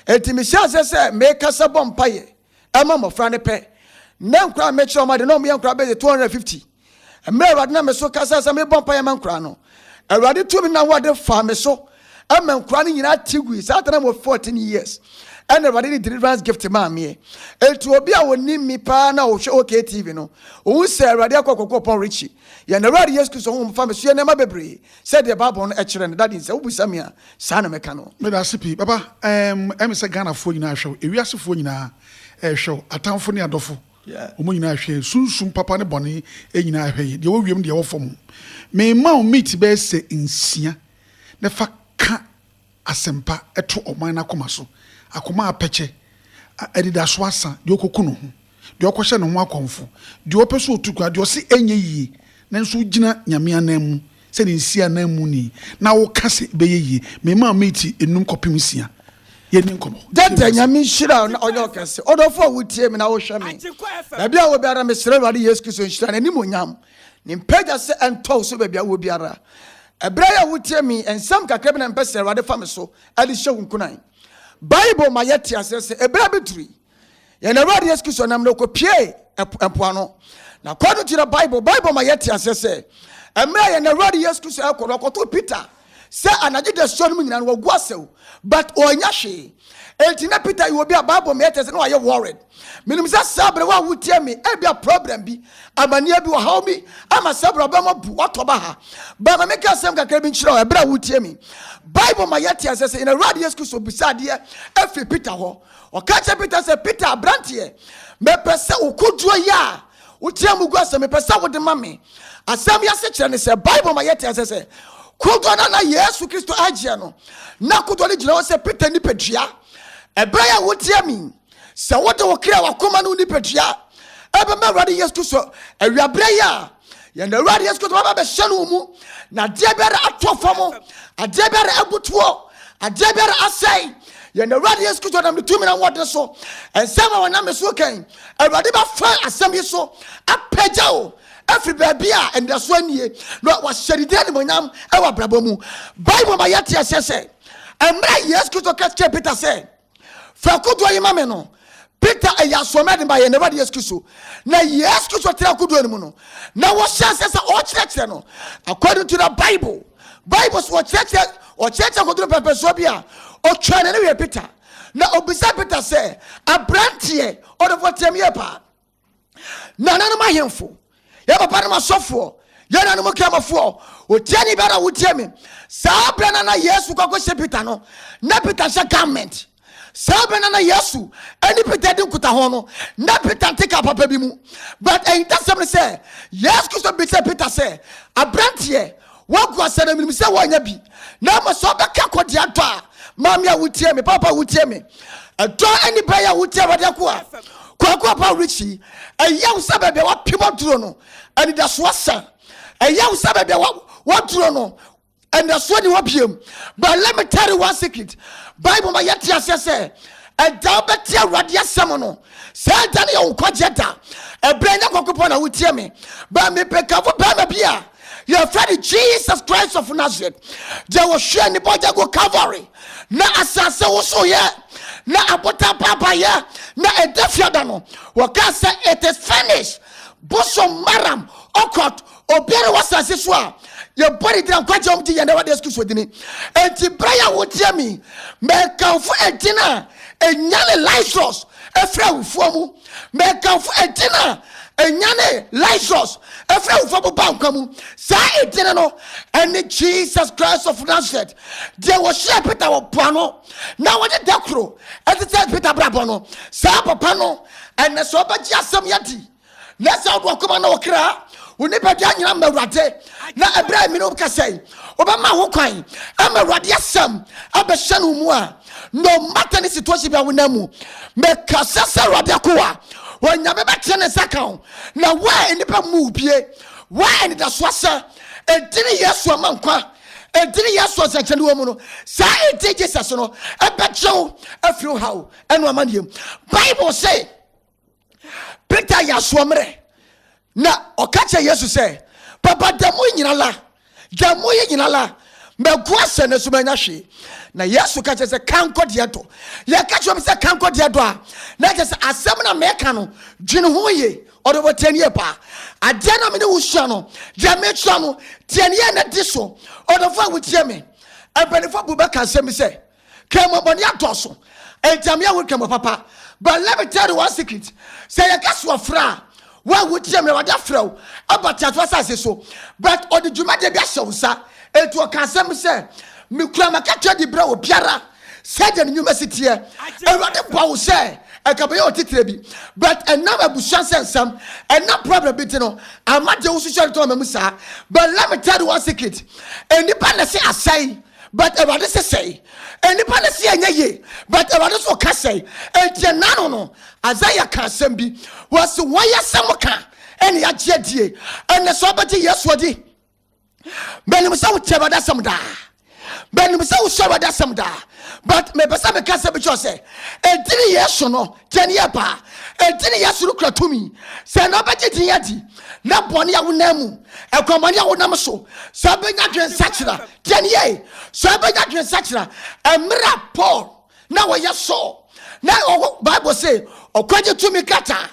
Enti mehyɛ aseɛ sɛ mekasa bɔ mpaeɛ. ɛma mmɔfra no pɛ. Na nkwadaa a mekyerɛ wɔn ade na wɔyɛ nkwadaa bɛyɛ 250. Mmerɛ Awurade nam me so kasa sɛ mebɔ mpaeɛ ma nkwadaa no, Awurade tumi na wɔde faa me so ɛma nkwadaa no nyinaa te gui. Saa tena wɔ 14 years ɛna Awurade de deliverance gift maa meɛ. Eti obi a wɔnim mi paa na ɔhwɛ OKTV no, ɔhu sɛ Awurade akɔ kɔkɔ pɔn Richie. Yɛn Awurade Yesu Kristo honhom fa me so yɛ nneɛma bebree. Sɛdeɛ Bible no kyerɛ no, Daddy, sɛ wobisa me a, saa na mɛka no. Meda ase pii, Papa. Ɛɛm, ɛyɛ me sɛ Ghanafoɔ nyinaa rehwɛ wo, ewiasefoɔ nyinaa rehwɛ wo, atamfo ne adɔfo, wɔn nyinaa rehwɛ yɛn. Sunsum papa ne bɔne nyinaa rehwɛ yɛn, deɛ ɛwɔ wiem ne deɛ ɛwɔ fam. Merema wo meat bɛyɛ sɛ nsia na fa ka asɛmpa to ɔman no akoma so, akoma a apɛkyɛ, a anidaso asa, deɛ ɔkɔku ne ho, deɛ ɔkɔhyɛ ne ho akɔmfo, deɛ ɔpɛ sɛ ɔtu kwan, deɛ ɔse ɛnyɛ yie, nanso wogyina Nyame ananmu sɛ ne nsi ananmuni na woka sɛ ɛbɛyɛ yie. Memaa Meeti nnum kɔpem nsia yɛnni nkɔmmɔ. Gyata, Nyame nhyira wo na ɔnyɛ wo kɛse. Ɔdɔfoɔ a wotie me na wohwɛ me. Baabi a wɔ biara, mesrɛ Awurade Yesu Kristo nhyira, n'animuonyam, Ne mpagya sɛ ɛntɔ wo so baabi a wowɔ biara. Ɛberɛ yɛ a wotie me nsɛm kakra bi na mpɛ sɛ Awurade fa me so de hyɛ wo nkunan. Bible ma yɛte aseɛ sɛ ɛberɛ bi duru yi, yɛn Awurade Yesu Kristo nam na ɔkɔpiee ɛpo ɛpo ano. Na kɔ no kyerɛ Bible. Bible ma yɛte aseɛ sɛ ɛmmerɛ a yɛn Awurade Yesu Kristo ɛkɔ no, ɔkɔto Peter. sɛ anadwo dasuo no mu nyinaa no wagu asɛw but ɔnya hwee enti na peter yɛ obi a bible meyɛ kyerɛ sɛ na wayɛ worried menim sɛ saa berɛ wo a wotie me ebi a problem bi amanneɛ bi ɔhaw bi ama saa berɛ ɔbɛma bu watɔ ba ha ba ma meka asɛm kakra bi nkyerɛ wo ɛberɛ a wotie me bible ma yɛte asɛ sɛ yɛn awurade yesu kristo bisa adeɛ afiri peter hɔ ɔka kyerɛ peter sɛ peter aberanteɛ mepɛ sɛ wokodwoɔ yɛ a Wotia mu gua sɛ, Mepɛ sɛ wode ma me. Asɛm yi asekyerɛ ne sɛ Bible ma yɛte ase sɛ kodoɔ no a na Yesu Kristo agyeɛ no, na kodoɔ no gyina hɔ sɛ Peter nipadua. Ɛberɛ yɛ a wotia mi sɛ wode wo kra wakoma no nipadua ɛbɛma Awurade Yesu Kristo awiaberɛ yi a yɛn Awurade Yesu Kristo bɛba bɛhyɛ no mu na adeɛ biara atɔ fam adeɛ biara abutuo adeɛ biara asɛe yɛn Awurade Yesu Kristo nam ne tumi na wɔde so nsɛm a wɔnam so kan awurade bɛfa asɛm yi so apagya o afiri baabi a anidasoɔ nie na wahyɛ ne din animonyam wɔ abrabɔ mu bible ma yɛte aseɛ sɛ mmerɛ yesu kristo ka kyerɛ peter sɛ fa kodoɔ yi ma me no peter ɛyɛ asoɔmɛ de ma yɛ n'awurade yesu kristo na yesu kristo tena kodoɔ no mu no na wɔhyɛ aseɛ sɛ ɔkyerɛkyerɛ no according to the bible bible so wɔkyerɛkyerɛ ɔkyerɛkyerɛ kodoɔ pɛpɛsoɔ bi a ɔtwaa ne ne wɛ peter Na ɔbisaa Peter sɛ, Aberanteɛ, ɔdɔfo ɔteam yɛ paa. Na nanom ahemfo, yɛ papa nom asɔfoɔ, yɛ nanom kramofoɔ, ɔtiani bɛɛ na wotia me. Saa berɛ no na Yesu kɔkɔhyɛ Peter no, na Peter hyɛ garment. Saa berɛ no na Yesu ne Peter di nkutaho no, na Peter nte ka papa bi mu. But ahintasɛm no sɛ, Yesu Kristo bisa Peter sɛ, Aberanteɛ, Woagu ase na menim sɛ woanya bi. Na ama sɛ ɔbɛka kɔ deɛ adɔ a maame a wotie me, papa a wotie me, ɛdɔ ani bɛyɛ a wotie awade ako a kwaako a pa rekyi. Ɛyɛ wo sɛ baabi a wapem aduro no anidaso asa. Ɛyɛ wo sɛ baabi a waduro no anidasoɔ ni hɔ biam. But let me tell you one secret. Bible ma yɛte aseɛ sɛ ɛda wobɛte awurade asɛm no saa ɛda no yɛ wo nkwagyeɛ da ɛberɛ nyɛ kɔkopɔ na wotie me ba mepɛkafo bɛrima bi a yɛfrɛ no jesus christ of nazareth deɛ wɔhwɛ ne bɔgya go calvary na asase wosoyɛ na abotan paapaeɛ na ɛda fiada no wɔkaa sɛ it is finished bosom maram ɔkɔt obiara wɔ asase so a yɛbɔ ne dina nkwagye wɔm gye yɛn dɛ wɔde yesu kristo dini enti berɛ yɛ wotie me mɛkamfo ɛdin a ɛnyane lazarus ɛfiri awufoɔ mu Mɛkamfo edin a ɛnyane Lazarus ɛfiri awufoɔ mu ba nkwa mu. Saa edin no ɛne Jesus Christ of Nazareth, deɛ wɔhyia Peter wɔ po ano na wɔde da koro ɛte sɛ Peter brabɔ no. Saa papa no ɛnɛ sɛ ɔbɛgye asɛm yɛdi na sɛ ɔde ɔkoma na ɔkra wo nipadua nyina ma awurade na ɛberɛ a ɛmene wo kasa yi wobɛma ho kwan ama awurade asɛm abɛhyɛ no mu a no matter ne situation bi a wonam mu mekasa sɛ awurade akoa onyame bɛtene ne nsa ka wo na woa nnipa mu bie woa anidasoɔ sɛ ɛdini yesu ama nkwa ɛdini yesu nsɛnkyɛne wɔ mu no saa ɛdi jesus no ɛbɛgye wo afiri wo haw ɛno amanneɛm bible se peter yɛ asoɔ mmerɛ na ɔka kyerɛ yesu sɛ papa da mu nyina la da mu yi nyina la mɛgu asɛ no so manya hwee na yesu ka kyerɛ sɛ ka nkɔdeɛ dɔ yɛka kyerɛ m sɛ ka nkɔdeɛ dɔ a na kyɛ sɛ asɛm na meka no dwene ho ye ɔde wɔ tiɛniɛ paa adeɛ na mene wo sua no deɛ mekyerɛ no tiɛniɛ na di so ɔdɔfo a wotie me mpanimfoɔ bu bɛka asɛm bi sɛ Kɛmɔ bɔne adɔɔso, enti ama yɛahu kɛmɔ papa. But let me tell you one secret. Sɛ yɛka so ɔfrɛ a, wo a wotie me, Awurade afrɛ wo aba teato asase so. But ɔde dwumadie bi ahyɛ wo nsa. Enti ɔka asɛm bi sɛ, Mekura m'akatua de brɛ obiara sɛdeɛ ne nnwuma si teɛ. Awurade bɔ wo sɛ ɛka bɛyɛ otitire bi. But ɛnam abusua nsɛnsɛm, ɛnam problem bi nti no, ama deɛ wosusuɛ no tɔn ma mu saa. But let me tell you one secret. Nnipa na ɛse asɛe. But Awurade se sɛe. Nnipa no se ɛnyɛ yie, but Awurade nso ka sɛe. Enti ɛnna ano no, Isaiah ka asɛm bi. Wɔse wɔayɛ asɛm ka ɛna yɛagye adie. Ɛnna sɛ wobɛgye Yesu adi, menim sɛ wotie Awurade asɛm daa. Menim sɛ wosɔ Awurade asɛm daa. But mepɛ sɛ meka sɛ bi kyerɛ sɛ, ɛdini Yesu no, tiɛ ne yɛ paa. Ɛdini Yesu no kura tumi. Sɛ na wobɛgye din adi, na bɔne a wonam mu, ɛkwammɔne a wonam so, sɛ wobɛnya dwensakyera, Deɛn yɛe? So ɛbɛnya adwensakyera? Mmerɛ a Paul na wɔyɛ Saul na ɔwɔ Bible se ɔkwagye tumi krataa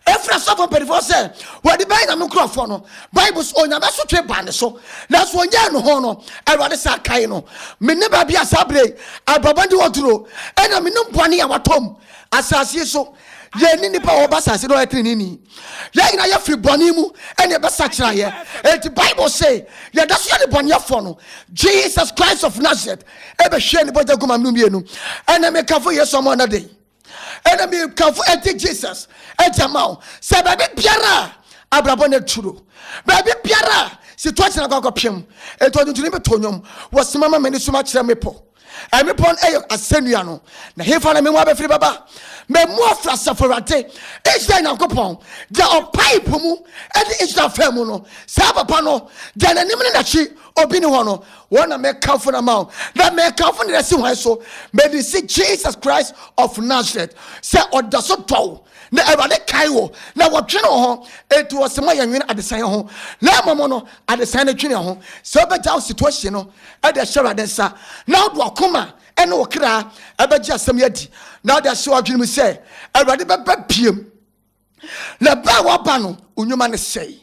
ɛfiri asɔfo mpanimfoɔ sɛ wɔde bɛyɛ nyame nkurɔfoɔ no bible so onyame asotwe baa ne so nanso ɔnyɛɛ no ho no awurade saa kae no mene baabi a saa berɛ ababɔde wɔ duro ɛna menim bɔne a watɔm asase so yɛni nnipa a wɔba asase no ɔyɛ teneneni Yɛn nyinaa yɛfiri bɔne mu ɛne ɛbɛsakyera yɛ. Enti Bible se yɛda so yɛ ne bɔneɛfoɔ no. Jesus Christ of Nazareth ɛbɛhwie ne bɔgya gu ma menu mmienu. Ɛnɛ mekafo Yesu ama ɔnɛ den. Ɛnɛ mekafo ɛnti Jesus ɛnti ama wo. Sɛ baabi biara a abrabɔ ne turo. Baabi biara a situation akɔ akɔpem. Enti ɔdentuni meto nnwom. Wɔsema ma mene suma kyerɛ mepɔ. Ɛmepɔ no yɛ asɛnnua no, na hefa na memu abɛfiri bɛba? Memu afiri asafo Awurade, Israel Nyankopɔn, deɛ ɔpae po mu de Israel faa mu no, saa papa no, deɛ n'anim ne n'akyi obi ne hɔ no, wɔn na mekamfo no ama wo, na mekamfo no asi hwan so? Mede si Jesus Christ of Nazareth sɛ ɔda so dɔ wo, na Awurade kae wo, na wɔdwene wo ho, enti wɔse ma yɛnwene adesaeɛ ho, na mmom no adesaeɛ no dwene ho, sɛ wobɛgya wo situation no, de ahyɛ Awurade nsa, na wode w'akoma ne wo kra bɛgye asɛm yi adi, na wode ahyɛ w'adwene mu sɛ, Awurade bɛba biam. Na ɛbɛɛ wɔba no, nnwuma no sɛe.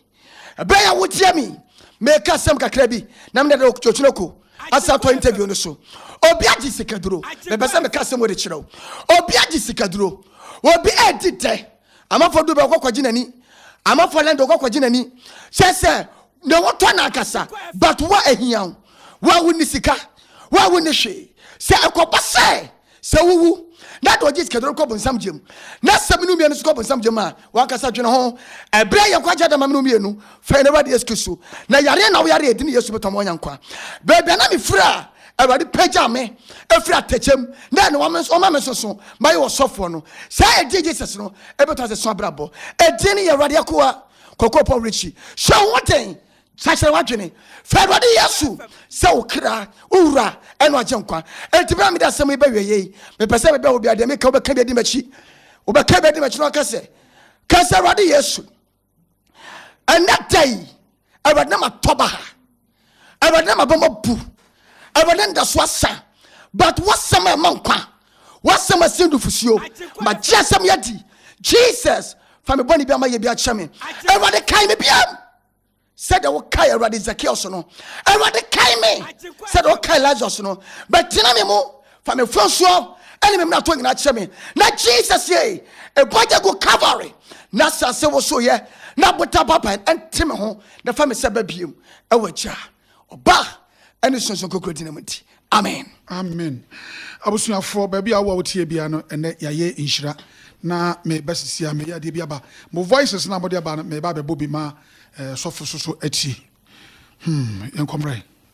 Ɛbɛyɛ a wotie me, meka asɛm kakra bi, na mede dɛ okyina ko asa tɔ interview no so. Obi agye sikaduro, mepɛ sɛ meka asɛm wɔde kyerɛ wo. Obi agye sikaduro, obi adi dɛ, amafo du bɛkɔ kɔgye n'ani, amafo lɛn de ɔkɔ kɔgye n'ani, kyɛ sɛ na wɔtɔ no ankasa but wo a ahia wo wo a wonni sika wo a wonni hwee sɛ ɛkɔba sɛ sɛ wowu na de ɔgye sikaduro kɔ bonsam gyam na sɛ mene mmienu so kɔ bonsam gyam a wankasa dwene ho ɛberɛ yɛ nkwagye adama mene mmienu fɛn na awurade yesu kristo na yareɛ na woyare ɛdi ne yesu bɛtɔ ma ɔnya nkwa baabi a na mefiri a awurade pagya me ɛfiri atɛkyɛm na ɛne wɔn nso ɔma me nso so mayɛ wɔ sɔfoɔ no saa ɛdi jesus no ɛbɛtɔ ase so abrabɔ ɛdi ne yɛ awurade akoa kɔkɔɔ pɔ werɛkyi hyɛ wo ho den sakyerɛ w'adwene fɛ awurade yesu sɛ wo kra wo wura ɛne agye nkwa enti berɛ a mede asɛm yi bɛwiɛ yei mepɛ sɛ mebɛ wo bia deɛ meka wobɛka bi adi m'akyi wobɛka bi adi m'akyi na waka sɛ ka sɛ awurade yesu ɛnɛ da yi awurade na matɔ ba ha awurade na mabɛma bu awurade nda so asa but wasɛm a ɛma nkwa wasɛm asie nufusuo magye asɛm yɛ di jesus fa me bɔne bi ama yɛ bi akyɛ me awurade kae me biam sɛdeɛ wokae awurade zakios no awurade kae me sɛdeɛ wokae lazarus no bɛtena me mu Fa me fɔnsoɔ ɛne me mmarato nyinaa kyerɛ me na Jesus yei ɛbɔgya gu Calvary na asase woso yɛ na bota baban ɛnte me ho na fa me sɛ ba biem ɛwɔ agya ɔba ɛne sunsun kokoro dina mu nti amen. Amen abusuafoɔ baabi a wowɔ wotie bia no ɛnɛ yɛayɛ nhyira na meba sisi a meyɛ adeɛ bi aba mo voices na mode aba no meba abɛbɔ bi ma eh, sɔfo soso atie hmm yɛnkɔmmerɛ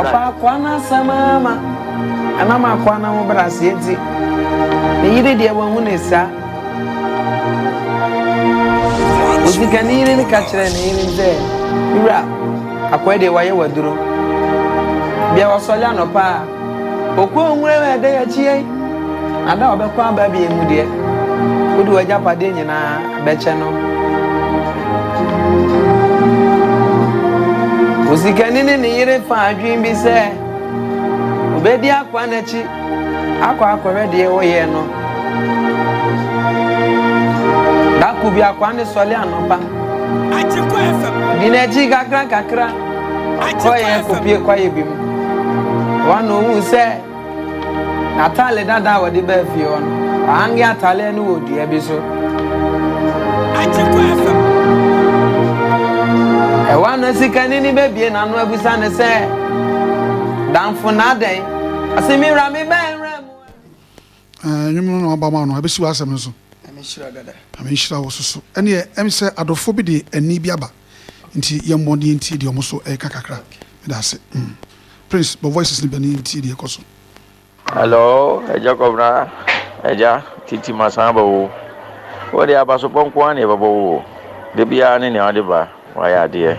Ɔfaa akoa no asɛm ara ma ɛnam akoa no ahobrɛaseɛ nti, ne yere deɛ wahu no saa. Osikani yere no ka kyerɛɛ ne yere sɛ, Me wura, akoa deɛ wayɛ waduro. Bia wasɔre anɔpa a, Ɔkɔɔ nwura mu a ɛda yɛakyi yɛn, na da a ɔbɛkɔ aba bio mu deɛ, wode w'agyapadeɛ nyinaa bɛkyɛ no. Osikani ne ne yere faa adwene bi sɛ obedi akoa no akyi akɔ akɔhwɛ deɛ ɛwɔ yɛn no. Da koro bi akoa no sɔre anɔpa. Di n'akyi kakra kakra. Ɔkɔɔ yɛn kɔpie kwaeɛ bi mu. Wɔn na ɔhuu sɛ n'ataale dada a wɔde baa fie hɔ no, ɔhange ataaleɛ no wɔ dua bi so. Ɛwɔ na sikani no bɛbie n'ano abisa no sɛ, Damfo na adɛn? Ɔse, me wura mebɛn Ɛɛ nwom no na waba ma no ɛbɛsi w'asɛm no so. Nyame nhyira dada. Nyame nhyira wo so so. Ɛneɛ ɛm sɛ adɔfoɔ bi de ɛnne bi aba nti yɛn bɔ ne yɛn tie deɛ ɔmo so ɛɛka kakra. Meda ase. Prince bɔ voices no bɛne yɛn tie deɛ ɛkɔ so. Hello agya kɔbena agya titi masan aba oo wode abasobɔ nkoaa na yɛbɛbɔ wo oo dabiaa ne nea wode ba. Wayɛ adeɛ.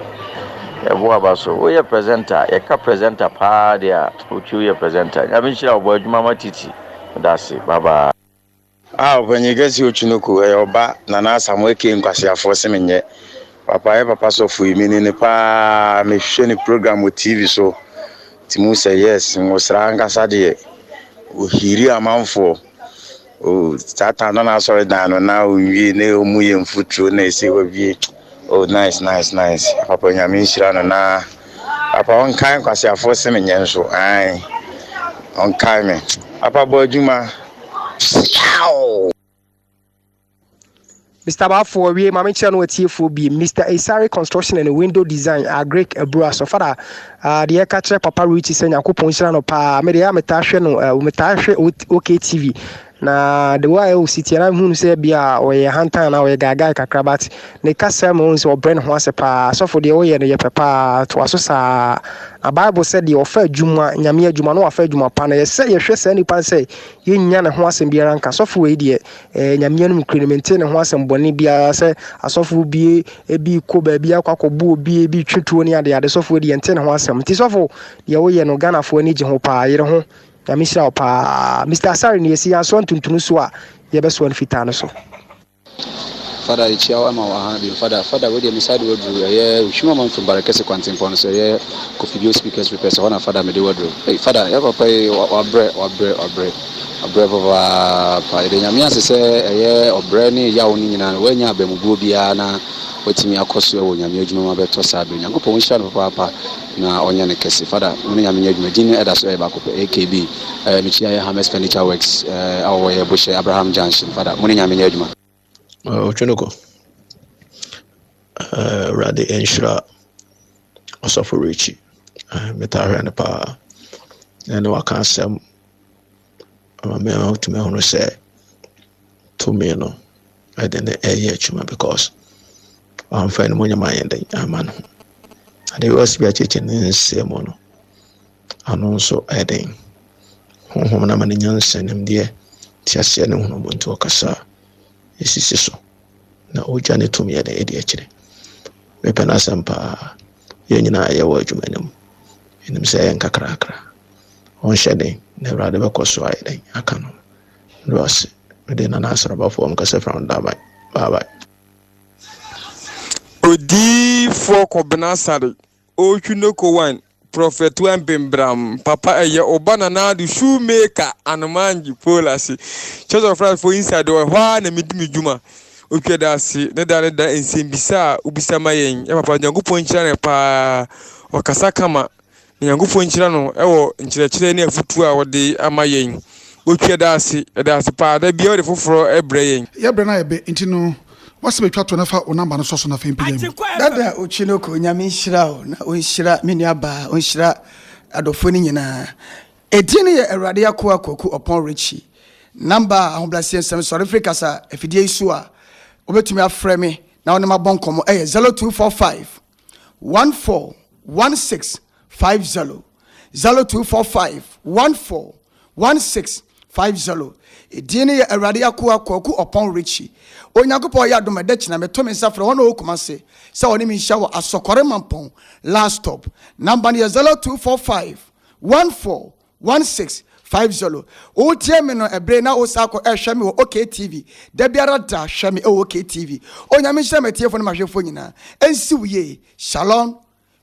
Ɛbo aba so. Woyɛ presenter. Yɛka presenter paa deɛ a, Otwi woyɛ presenter. Nyame nhyira wo. Bɔ adwuma ma Titi. Meda ase. Bye bye. Ah ɔpanyin kɛseɛ Otwi no ku ɛyɛ ɔba Nana Asamoah aka nkwaseafoɔ se menyɛ papa yɛ papa sɔfo yi menim no paa mehwɛ ne program wɔ TV so nti muhu sɛ yes Nwosra ankasa deɛ ɔhiri amanfoɔ Oh Satan no n'asɔredan no na onwie na ɔmu yɛ mfuturo na ɛsɛ wawie. Oh nice nice nice. Papa Nyame nhyira no na papa ɔnkae nkwaseafoɔ se me nyɛ nso. Ae. Ɔnkae me. Papa bɔ adwuma. Siaw! Mister Bafo ɔwie maame kyerɛ no atiefoɔ bi Mr Esare construction and window design agric abura so fada uh, deɛ ɛka kyerɛ papa Richie sɛ nyankopɔn nhyira no paa me deɛ metaa hwɛ no uh, metaa hwɛ OK TV na the way ɛwɔ si tiɛ na hu no sɛ bi a ɔyɛ hantan na ɔyɛ gaagaa kakra but ne kasa mu ɔhu sɛ ɔbrɛ ne ho ase paa sɔfo deɛ ɔyɛ no yɛ pɛ paa toa so saa na bible sɛ deɛ ɔfa adwuma nyame adwuma na wafa adwuma pa no yɛsɛ yɛhwɛ saa nipa sɛ yɛnya ne ho asɛm biara nka sɔfo wei deɛ Ɛɛ, Nyame yɛ no nokorɛ, mentee ne ho asɛm bɔne biara sɛ asɔfoɔ bi bi kɔ baabi akɔ akɔbɔ obi, bi twe tuo ne adeade. Sɔfoɔ di yɛntee ne ho asɛm. Nti sɔfo, deɛ woyɛ no Ghanafoɔ ani gye ho paa, yere ho. Nyame hyira wo paa. Mister Asare no yɛsi yɛn asoa ntuntunu so a, yɛbɛsoa no fitaa no so. Fada yekyia wo ama waha bio fada fada wei deɛ me side waduru ɛyɛ ohwim ama mfiri bare kɛse kwantempɔn no so ɛyɛ kofidie speakers repairs ɛhɔ na fada mede waduru ei fada yɛ papa yi wabrɛ wabrɛ wabrɛ Ɔbrɛ papaapa. Yɛda Nyame ase sɛ ɛyɛ ɔbrɛ ne yaw no nyinaa no, woannya abamubuo biara na woatumi akɔ so wɔ Nyame adwuma mu abɛtɔ saa berɛ. Nyankopɔn nhyira no papaapa na ɔnyɛ no kɛse. Fada, wo ne Nyame nyɛ adwuma. Din no ɛda so ɛyɛ baako pɛ, AKB. Ɛɛ, mekyia yɛ Hames Furniture Works, ɛɛ, a wɔwɔ yɛ Bohyɛ, Abraham Junction. Fada, mo ne Nyame nyɛ adwuma. Ɔtwe no kɔ. Awurade nhyira ɔsɔfo Richie. Metaa hwɛ no paa. Ɛne waka asɛm ama me a wotumi ahunu sɛ tumi no ɛde ne ɛyɛ adwuma because wamfa no mu nyɛ ma yɛn den ama no. Ade wɔ si bi akyekye ne nsɛm mu no. Ano nso ayɛ den. Honhom no ama no nyansa, nimdeɛ, teaseɛ ne nhunumu nti ɔkasa a, ɛsisi so na ɔgya ne tumi ɛde ɛde akyire. Mepɛ n'asɛm paa. Yɛn nyinaa yɛwɔ adwuma no mu. Ɛnim sɛ ɛyɛ nkakrakra. Ɔnhyɛ den na Awurade bɛkɔ so ayɛ den aka no. Mede ase. Mede Nana Asrabafoɔ nkasa fira no daaban. Bye bye. Odiyifoɔ Kɔbena Sare. ɔretwi no kowan prɔfɛt wan bembram papa ɛyɛ ɔba nanado shoemaker anomanji polasi church of christ for inside wɔ ɛhɔ a na medi me dwuma otwa da ase ne da ne da nsɛmbisa a wobisa ma yɛn yɛ papa nyankopɔn nhyira no paa ɔkasa kama na nyankopɔn nhyira no ɛwɔ nkyerɛkyerɛ ne afutuo a wɔde ama yɛn otwa da ase ɛda ase paa da bia wɔde foforɔ ɛbrɛ yɛn yɛbrɛ no ayɛ bɛ nti no W'asɛ bɛtwa to na fa wo number no sɔ so na afei mpagya mu. Dada Okyinnoko Nyame nhyira wo na ɔnhyira me nua baa, ɔnhyira adɔfoɔ no nyinaa. Ɛdin no yɛ Awurade Akoa Kwaku Ɔpɔn Richie. Number a ahobraseɛ nsɛm sɔre firi kasa afidie yi so a wobɛtumi afrɛ me na wo ne mabɔ nkɔmmɔ ɛyɛ 0245 141650. zero two four five one four one six five zero edin no yɛ awurade akoa kwaku ɔpɔn richi onyankopɔn yɛ adom ɛdɛ kyena meto me nsa frɛ wɔn a ɔwɔ kuma se sɛ wɔne me nhyia wɔ asɔkɔre mampɔn last stop namba no yɛ zero two four five one four one six five zero wotie me no ɛbere na wosa akɔ ɛhwɛ me wɔ oktv da biara da hwɛ me ɛwɔ oktv onyame nhyira m'atiefo ne mahwɛfoɔ nyinaa ɛnsi wo yie shalom